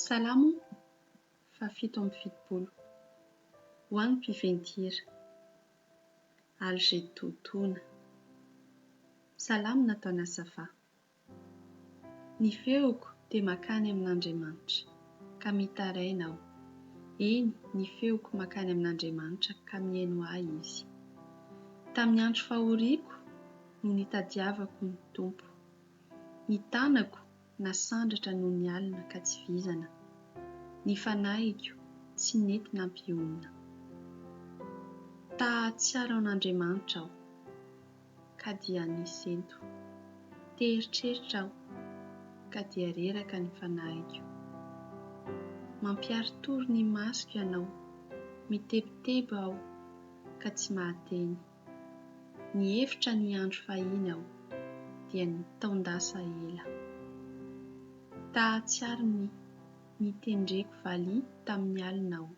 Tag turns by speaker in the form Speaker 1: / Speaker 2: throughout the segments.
Speaker 1: Salamo fahafito amby fitopolo. Ho an'ny mpiventy-hira. Algedotona. Salamo nataon'Asafa. Ny feoko dia mankany amin'Andriamanitra, ka mitaraina aho, eny, ny feoko mankany amin'Andriamanitra ka mihaino ahy izy. Tamin'ny andro fahoriako no nitadiavako ny Tompo. Ny tanako nasandratra noho ny alina ka tsy vizana. Ny fanahiko tsy nety nampionona. Ta hahatsiaro an'Andriamanitra aho, ka dia nisento. Te hieritreritra aho, ka dia reraka ny fanahiko. Mampiaritory ny masoko Ianao, mitebiteby aho, ka tsy mahateny. Nihevitra ny hiandry fahiny aho, dia nitaon-dasa ela. Tahatsiaro ny nitendreko valiha tamin'ny alina aho.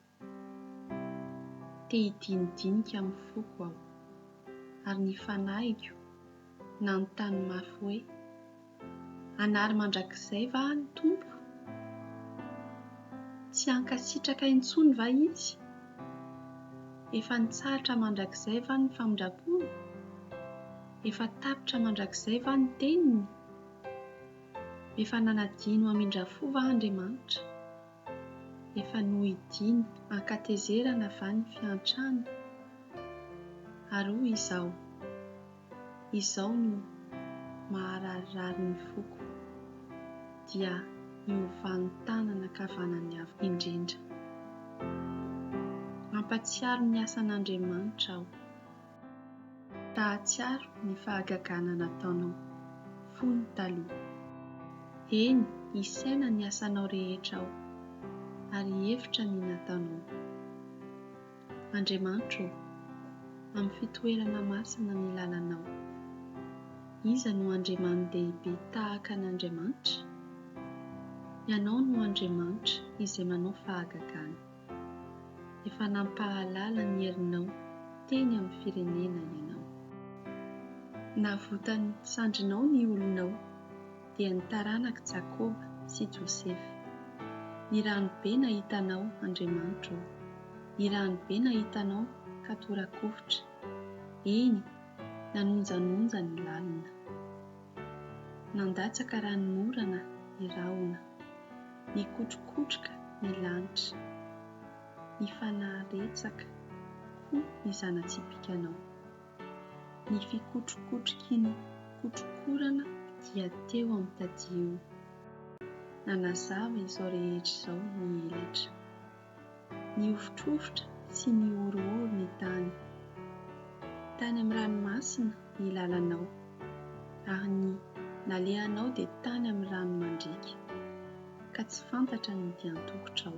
Speaker 1: Te hidinidinika amin'ny foko aho, ary ny fanahiko nanontany mafy hoe. Hanary mandrakizay va ny Tompo? Tsy hankasitraka intsony va Izy? Efa nitsahatra mandrakizay va ny famindram-pony? Efa tapitra mandrakizay va ny teniny? Efa nanadino hamindra fo va Andriamanitra? Efa nohidiany an-katezerana va ny fiantrana? Ary hoy Izaho. izao no mahararirary ny foko dia miovàny tanana ankavanany avo indrindra. Mampatsiaro ny asan'Andriamanitra aho. Tahatsiaro ny fahagagana nataonao fony taloha. Eny isaina ny asanao rehetra aho ary hevitra ny nataonao. Andriamanitro ô, amin'ny fitoerana masina ny lalanao. Iza no andriamani-dehibe tahaka an'Andriamanitra? Ianao no Andriamanitra izay manao fahagagana. Efa nampahalala ny herinao teny amin'ny firenena Ianao. Navotan'ny sandrinao ny olonao, dia ny taranak'i Jakoba sy Josefa. Ny rano be nahitanao, Andriamanitra ô, ny rano be nahitanao ka tora-kovitra, eny, nanonjanonja ny lalina. Nandatsaka ranonorana ny rahona, nikotrokotroka ny lanitra, nifanaretsaka koa ny zana-tsipikanao. Ny fikotrokotroky ny kotrokorana dia teo amin'ny tadiony. Nanazava izao rehetra izao ny elatra. Nihofotrofotra sy nihorohoro ny tany. Tany amin'ny ranomasina ny lalanao, ary ny nalehanao dia tany amin'ny rano mandriaka, ka tsy fantatra ny dian-tokotrao.